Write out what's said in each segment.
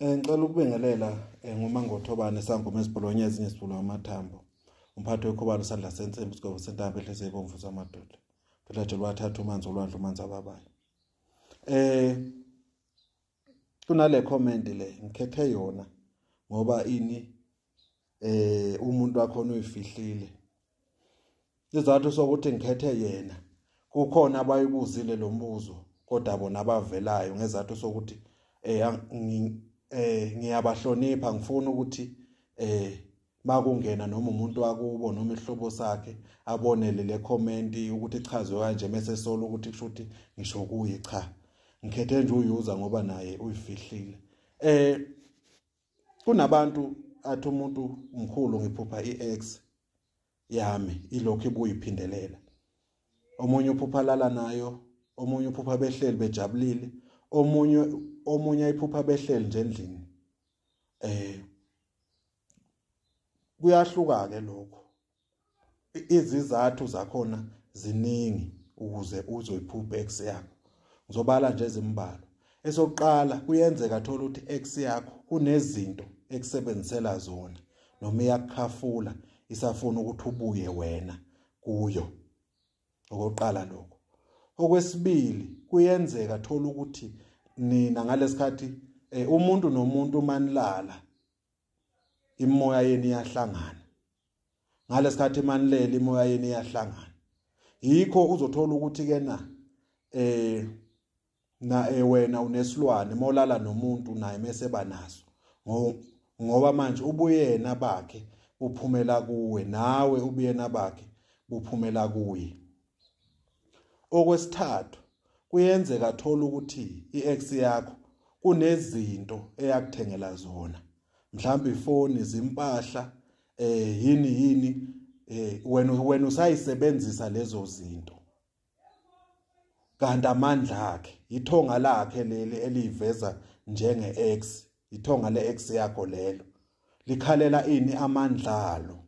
Eh ngicela ukubingelela eh, ngomangothobane sangoma esibholonye ezinye sibhulo amathambo. Umphathi wekhobalo sandla sensimbi sigobo sentambo ehlise ibomvu samadoda. Phela nje lwathatha umanzi olwandle umanzi ababayo. Eh kunale comment le ngikhethe yona ngoba ini eh umuntu wakho uyifihlile izathu sokuthi ngikhethe yena kukhona abayibuzile lo mbuzo kodwa bona abavelayo ngezathu sokuthi eh eh ngiyabahlonipha ngifuna ukuthi eh makungena noma umuntu wakubo noma ihlobo sakhe abonele le comment ukuthi ichazwe kanje mase sola ukuthi kusho ukuthi ngisho kuye cha ngikhethe nje uyuza ngoba naye uyifihlile eh kunabantu athi umuntu mkhulu ngiphupha i-ex yami ilokhu ibuyiphindelela omunye uphupha lala nayo omunye uphupha behleli bejabulile omunye omunye ayiphupha behleli nje endlini eh kuyahluka ke lokho izizathu zakhona ziningi ukuze uzoyiphupha ex yakho ngizobala nje ezimbalwa esokuqala kuyenzeka thola ukuthi ex yakho kunezinto ekusebenzisela zona noma iyakukhafula isafuna ukuthi ubuye wena kuyo okokuqala lokho okwesibili kuyenzeka thola ukuthi nina ngalesikhathi eh, umuntu nomuntu manilala imoya yenu iyahlangana ngalesikhathi emanilele imoya yenu iyahlangana yikho uzothola ukuthi ke na eh na eh, wena unesilwane molala nomuntu naye mese banaso ngoba manje ubuyena bakhe uphumela kuwe nawe ubuyena bakhe buphumela kuye Okwesithathu, kuyenzeka thola ukuthi i-ex yakho kunezinto eyakuthengela zona. Mhlawumbe ifoni, izimpahla, eh yini yini eh wena wena usayisebenzisa lezo zinto. Kanti amandla akhe, ithonga lakhe leli eliveza njenge ex, ithonga le ex yakho lelo. Likhalela ini amandla alo?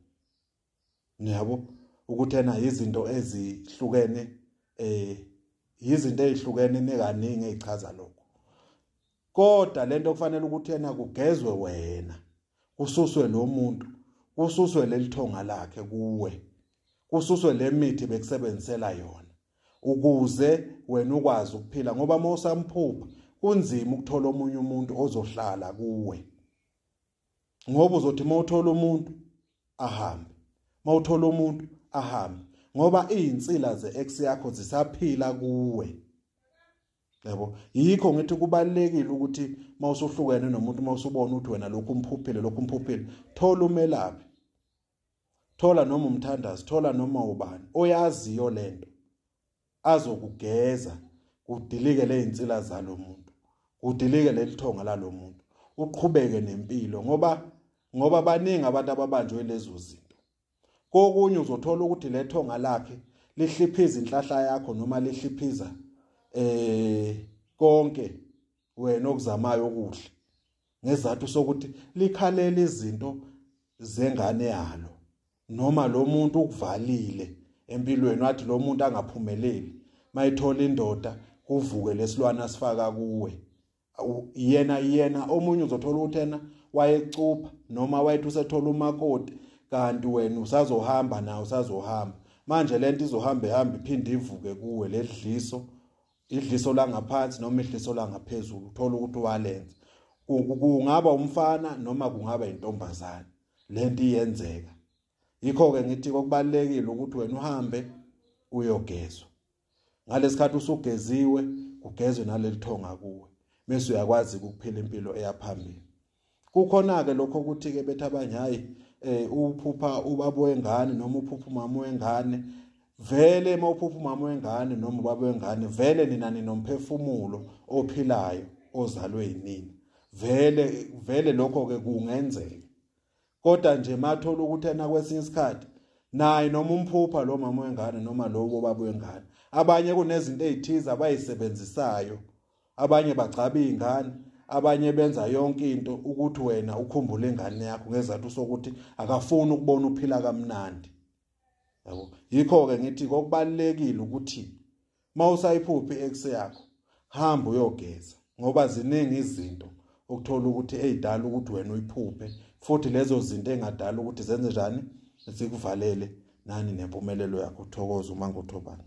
niyabo ukuthi ena izinto ezihlukene eh izinto ezihlukene nekaningi ezichaza lokho kodwa lento kufanele ukuthi ena kugezwe wena kususwe lo muntu kususwe lelithonga lakhe kuwe kususwe lemithi bekusebenzisela yona ukuze wena ukwazi ukuphila ngoba mawusamphupha kunzima ukuthola omunye umuntu ozohlala kuwe ngoba uzothi uma uthola umuntu ahambe uma uthola umuntu ahambe ngoba izinsila ze-ex yakho zisaphila kuwe yabo yikho ngithi kubalekile ukuthi mawusuhlukene nomuntu mawusubona ukuthi wena lokhu umphuphile lokhu umphuphile thola umelaphi thola noma umthandazi thola noma ubani oyaziyo lento azokugeza kudilike lezinsila zalomuntu kudilike lelithonga lalomuntu uqhubeke nempilo ngoba ngoba baningi abantu ababanjwe lezo zinto kokunye uzothola ukuthi lethonga lakhe lihliphiza inhlahla yakho noma lihliphiza eh konke wena okuzamayo okuhle ngezathu sokuthi likhalela izinto zengane yalo noma lo muntu ukuvalile empilweni wathi lo muntu angaphumeleli mayithola indoda kuvuke lesilwana sifaka kuwe yena yena omunye uzothola ukuthi yena wayecupha noma wayethi usethola umakoti kanti wena usazohamba nawe usazohamba manje lento izohamba ihamba iphinde ivuke kuwe ledliso idliso langaphansi noma idliso langaphezulu uthola ukuthi walenza kungaba umfana noma kungaba intombazane lento iyenzeka yikho ke ngithi kokubalekile ukuthi wena uhambe uyogezwa ngalesikhathi usugeziwe kugezwe nalelithonga kuwe mase uyakwazi ukuphila impilo eyaphambili kukhona ke lokho ukuthi ke bethi abanye hayi eh uphupha ubaba wengane noma uphupha umama wengane vele uma uphupha umama wengane noma ubaba wengane vele nina ninomphefumulo ophilayo ozalwe yinini vele vele lokho ke kungenzeka kodwa nje mathola ukuthi ena kwesinye isikhathi naye noma umphupha lo mama wengane noma lowo baba wengane abanye kunezinto ezithize abayisebenzisayo abanye bagcaba izingane abanye benza yonke into ukuthi wena ukhumbule ingane yakho ngezathu sokuthi akafuni ukubona uphila kamnandi yabo yikho-ke ngithi kokubalulekile ukuthi uma usayiphuphi i-ex yakho hamba uyogeza ngoba ziningi izinto ukuthola ukuthi ey'dala ukuthi wena uyiphuphe futhi lezo zinto engadala ukuthi zenze njani zikuvalele nani nempumelelo yakho thokoza uma ngothobani